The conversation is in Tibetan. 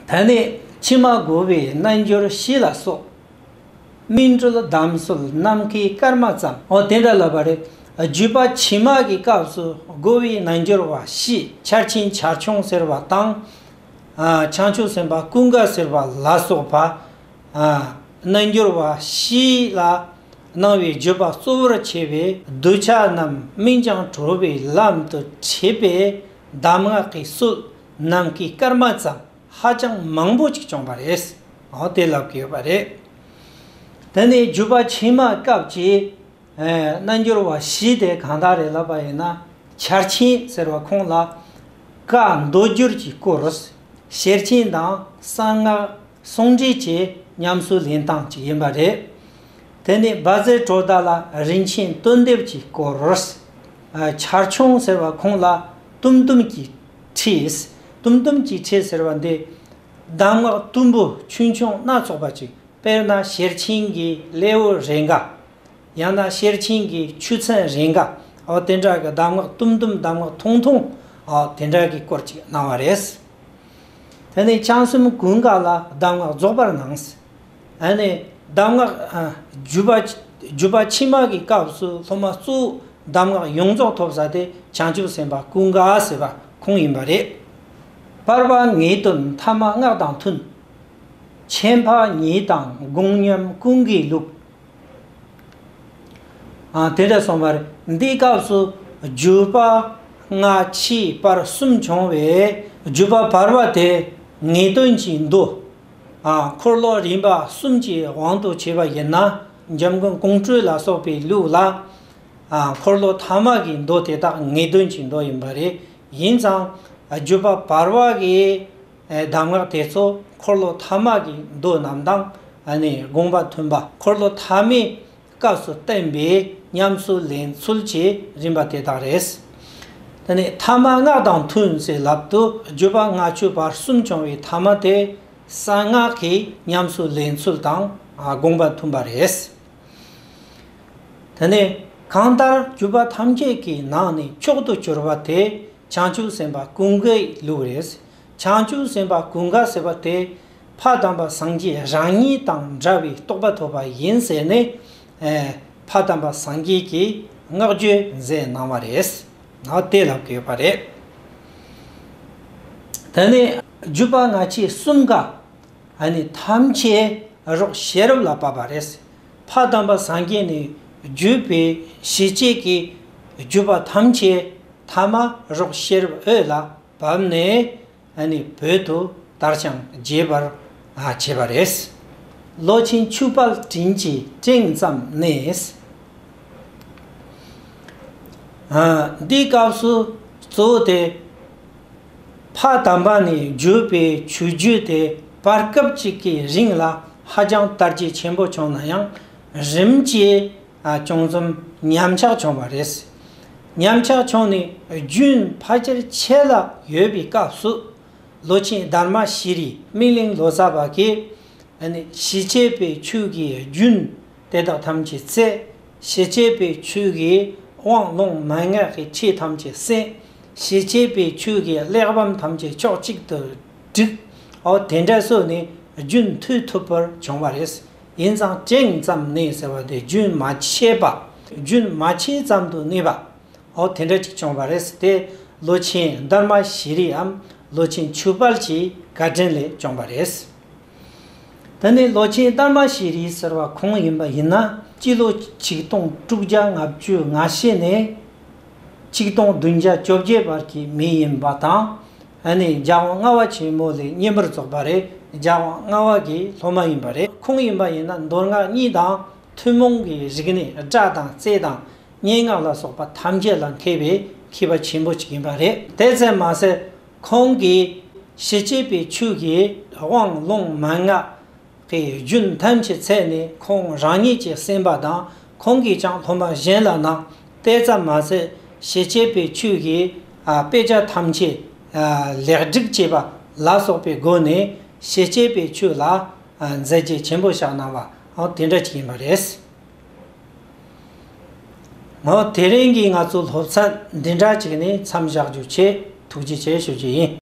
ད་ནི་ཕྱི་མ་དགུ་བའི་རྣལ་འབྱོར་བཞི་ལ་སོགས། སྨིན་གྲོལ་དམ་གསོལ་ནམ་མཁའི་སྐར་མ་ཙམ། འོ་དེ་འདྲ་ལབ་པ་རེད། བརྒྱུད་པ་ཕྱི་མ་གི་སྐབས་སུ་དགུ་བའི་རྣལ་འབྱོར་བ་བཞི་ཆར་ཕྱིན་ཆར་ཕྱུང་ཟེར་བ་དང། བྱང་ཆུབ་སེམས་དཔའ་ཀུན་དགའ་ཟེར་བ་ལ་སོགས་པ། རྣལ་འབྱོར་བ་བཞི་ལ་སྣང་བའི་བརྒྱུད་པ་གཙོ་བོར་བྱས་པའི་གདུལ་བྱ་རྣམས་སྨིན་བྱང་གྲོལ་བའི་ལམ་དུ་བྱེད་པའི་གདམས་ངག་གི་སྲོལ། ནང་གི་སྐར་མ་ཙམ་ཧ་ཅང་མང་པོ་ཅིག་བྱུང་བ་རེད། དེ་ལབ་དགོས་པ་རེད། དེ་ནས་བརྒྱུད་པ་ཕྱི་མ་སྐབས་ཀྱི་རྣལ་འབྱོར་བ་བཞི་དེ་གང་དག་རེད་ལབ་པ་ཡིན་ན་ཆར་ཆེན་ཟེར་བ་ཁོང་ལ། བཀའ་མདོ་སྒྱུར་གྱི་སྐོར་ཤེར་ཕྱིན་དང་གསང་སྔགས་ཟུང་འབྲེལ་གྱི་ཉམས་གསོ་ལེན་སྟངས་ཅིག་ཡིན་པ་རེད། དེ་ནས་རྦ་རྫའི་གྲོ་བརྡལ་ལ་རིན་ཆེན་གཏོལ་འདེབས་ཀྱི་སྐོར། ཆར་ཆུང་ཟེར་བ་ཁོང་ལ་ཏུམ་ཏུམ་གྱི་ཕྱིས། ཏུམ་ཏུམ་གྱི་ཆས་ཟེར་བ་འདི། གདམས་ངག་གཏུམ་པོ་ཆུང་ཆུང་སྣ་ཚོགས་པ་ཅིག་དཔེར་ན་ཤེར་ཕྱིན་གྱི་སླེ་བོ་རེ་འགའ། ཡང་ན་ཤེར་ཕྱིན་གྱི་ཆུ་ཚན་རེ་འགའ་འོ་དེ་འདྲ་གི་གདམས་ངག་གཏུམ་གཏུམ་གདམས་ངག་ཐུང་ཐུང་འོ་དེ་འདྲ་གི་སྐོར་ཅིག་སྣང་བ་རེད། དེ་ནས་བྱང་སེམས་ཀུན་དགའ་ལ་གདམས་ངག་རྫོགས་པར་སྣང། གདམས་ངག། བརྒྱུད་པ་ཕྱི་མ་གི་སྐབས་སུ་སློབ་མ་གཙོ་བོ་གདམས་ངག་ཡོངས་རྫོགས་ཐོབ་ས་དེ་བྱང་ཆུབ་སེམས་དཔའ་ཀུན་དགའ་ཟེར་བ་ཁོང་ཡིན་པ་རེད། པར་པ་ངེས་དོན་མཐའ་མ་སྔགས་དང་མཐུན། ཆད་འཕགས་ཉིད་དང་དགོངས་མཉམ་ཀུན་གྱི་ལུགས། དེ་འདྲ་སོང་བ་རེད། འདིའི་སྐབས་སུ་བརྒྱུད་པ་སྔ་ཕྱི་བར་གསུམ་བྱུང་བས་བརྒྱུད་པ་བར་པ་དེ་ངེས་དོན་གྱི་མདོ། འཁོར་ལོ་རིམ་པ་གསུམ་གྱི་དབང་དུ་བྱས་པ་ཡིན་ན་འཇམ་མགོན་ཀོང་སྤྲུལ་ལ་སོགས་པའི་ལུགས་ལ། འཁོར་ལོ་ཐ་མ་གི་མདོ་དེ་དག་ངེས་དོན་གྱི་མདོ་ཡིན་པ་རེད། ཡིན་ཙང་བརྒྱུད་པ་བར་བར་གྱི་གདམས་ངག་དེ་ཚོ་འཁོར་ལོ་ཐ་མ་གི་མདོ་རྣམས་དང་དགོངས་པ་མཐུན་པ་འཁོར་ལོ་ཐ་མའི་སྐབས་སུ་བསྟན་པའི་ཉམས་གསོའི་ལེན་ཚུལ་གྱི་རིམ་པ་དེ་དག་རེད། དེ་ནས་ཐ་མ་སྔགས་དང་ཐུན་ཟེར་ལབ་ཏུ་བརྗོད་པ་ལྔ་མཆོད་པར་གསུམ་བྱུང་བའི་ཐ་མ་དེ་གསང་སྔགས་ཀྱི་ཉམས་གསོའི་ལེན་ཚུལ་དང་དགོངས་པ་མཐུན་པ་རེད། དེ་ནས་གང་ལྟར་བརྒྱུད་པ་ཐམས་ཅད་ཀྱི་ནང་ནས་མཆོག་ཏུ་གྱུར་པ་དེ་བྱང་ཆུབ་སེམས་དཔའ་ཀུན་དགའི་ལུགས་རེད། བྱང་ཆུབ་སེམས་དཔའ་ཀུན་དགའ་ཟེར་བ་དེ་ཕ་དམ་པ་སངས་རྒྱས་རང་ཉིད་དང་འདྲ་བའི་རྟོགས་པ་ཐོབ་པ་ཡིན་ཟེར་ནས་ཕ་དམ་པ་སངས་རྒྱས་ཀྱིས་བསྔགས་བརྗོད་མཛད་གནང་བ་རེད། དེ་ལ་དགོས་པ་རེད། ད་ནི་བརྒྱུད་པ་སྔ་ཕྱི་གསུམ་ཀ་ནི་ཐམས་ཅད་རོགས་ཤེས་རབ་ལ་བབས་པ་རེད། ཕ་དམ་པ་སངས་རྒྱས་ནི་བརྒྱུད་པའི་གཞི་བྱེས་ཀྱི་བརྒྱུད་པ་ཐམས་ཅད་ཐ་མ་རོགས་ཤེས་རབ་འོད་ལ་བབས་ནས་བོད་དུ་དར་ཞིང་རྒྱས་པར་བྱས་པ་རེད། ལོ་ཆེན་ཆུ་སྤར་དྲིན་གྱི་སྤྲིན་ཙམ་གནས། འདི་སྐབས་སུ་གཙོ་བོ་དེ། ཕ་དམ་པ་ནས་བརྒྱུད་པའི་ཆོས་བརྒྱུད་དེ་བར་སྐབས་གཅིག་གི་རིང་ལ་ཧ་ཅང་དར་རྒྱས་ཆེན་པོ་བྱུང་ན་ཡང་རིམ་གྱིས། ཅུང་ཙམ་ཉམས་ཆག་བྱུང་བ་རེད། ཉམས་ཆག་བྱུང་ནས་རྒྱུན་ཕ་ཆེར་ཆད་ལ་ཡོད་པའི་སྐབས་སུ། ལོ་ཆེན་དར་མ་ཤེས་རིག་སྨིན་གླིང་ལོ་ཙཱ་བ་ཀས། ཞི་བྱེད་པའི་ཆོས་ཀྱི་རྒྱུན་དེ་དག་ཐམས་ཅད་བརྩད། ཞི་བྱེད་པའི་ཆོས་ཀྱི་དབང་ཀློང་མན་ངག་གི་ཆོས་ཐམས་ཅད་གསན། ཞི་བྱེད་པའི་ཆོས་ཀྱི་གླེགས་བམ་ཐམས་ཅད་ཕྱོགས་གཅིག་ཏུ་བསྒྲིགས། དེ་འདྲ་བཟོས་ནས་རྒྱུན་མཐུད་ཐུབ་པར་བྱུང་བ་རེད། ཡིན་ཙང་ཅིང་ཙམ་ནི་ཟེར་བ་དེ་རྒྱུན་མ་ཆད་པ་རྒྱུན་མ་ཆད་ཙམ་དུ་གནས་པའོ། དེ་འདྲ་ཅིག་བྱུང་བ་རེད་ཟེར་ཏེ་ལོ་ཆེན་སྡར་མ་བཞི་རིའམ་ལོ་ཆེན་ཆུ་དཔལ་གྱི་བཀའ་དྲིན་ལས་བྱུང་བ་རེད། ད་ནི་ལོ་ཆེན་སྡར་མ་བཞི་རི་ཟེར་བ་གང་ཡིན་པ་ཡིན་ན་སྤྱི་ལོ་ཆིག་སྟོང་དྲུག་བརྒྱ་ལྔ་བཅུ་ང་བཞི་ནས་ཆིག་སྟོང་བདུན་བརྒྱ་བཅོ་བརྒྱད་བར་གྱི་མི་ཡིན་པ་དང་ཨ་ནི་ལྗགས་དབང་ལྔ་བ་ཆེན་མོ་ལས་གཉེན་པོར་རྫོགས་པ་རེད་ལྗགས་དབང་ལྔ་བ་གྱི་སློབ་མ་ཡིན་པ་རེད་ཁོང་ཡིན་པ་ཡིན་ན་མདོར་སྔགས་གཉིས་དང་ཐུན་མོང་གི་རིགས་ནི་སྒྲ་དང་རྩལ་དང་སྙན་ངག་ལ་སོགས་པ་ཐམས་ཅད་ལ་མཁས་པའི་མཁས་པ་ཆེན་པོ་ཅིག་ཡིན་པ་རེད་དེ་བཙན་མ་ཟད་ཁོང་གིས་ཞི་བྱེད་པའི་ཆོས་ཀྱི་དབང་ལུང་མན་ངག་དེ་ཡི་རྒྱུན་ཐམས་ཅད་ཚད་ནི་ཁོང་རང་ཉིད་ཀྱིས་སེམས་པ་དང་ཁོང་གིས་ཀྱང་ལྷོ་མ་གཞན་ལ་ནང་བསྟན་ཙམ་མ་ཟད་ཞེ་བཅད་པའི་ཆོས་ཀྱི་དཔེ་ཆ་ཐམས་ཅད་ལེགས་སྒྲིག་བྱས་པ་ལ་སོགས་པའི་སྒོ་ནས་ཞེ་བཅད་པའི་ཆོས་ལ་མཛད་རྗེས་ཆེན་པོ་བཞག་གནང་བའང་དེ་འདྲ་ཅིག་ཡིན་པ་རེད། དེ་རིང་གི་ང་ཚོའི་སློབ་ཚན་འདི་འདྲ་ཅིག་ནི་མཚམས་བཞག་རྒྱུ་ཆེས་ཐུགས་རྗེ་ཆེ་ཞུ་རྒྱུ་ཡིན།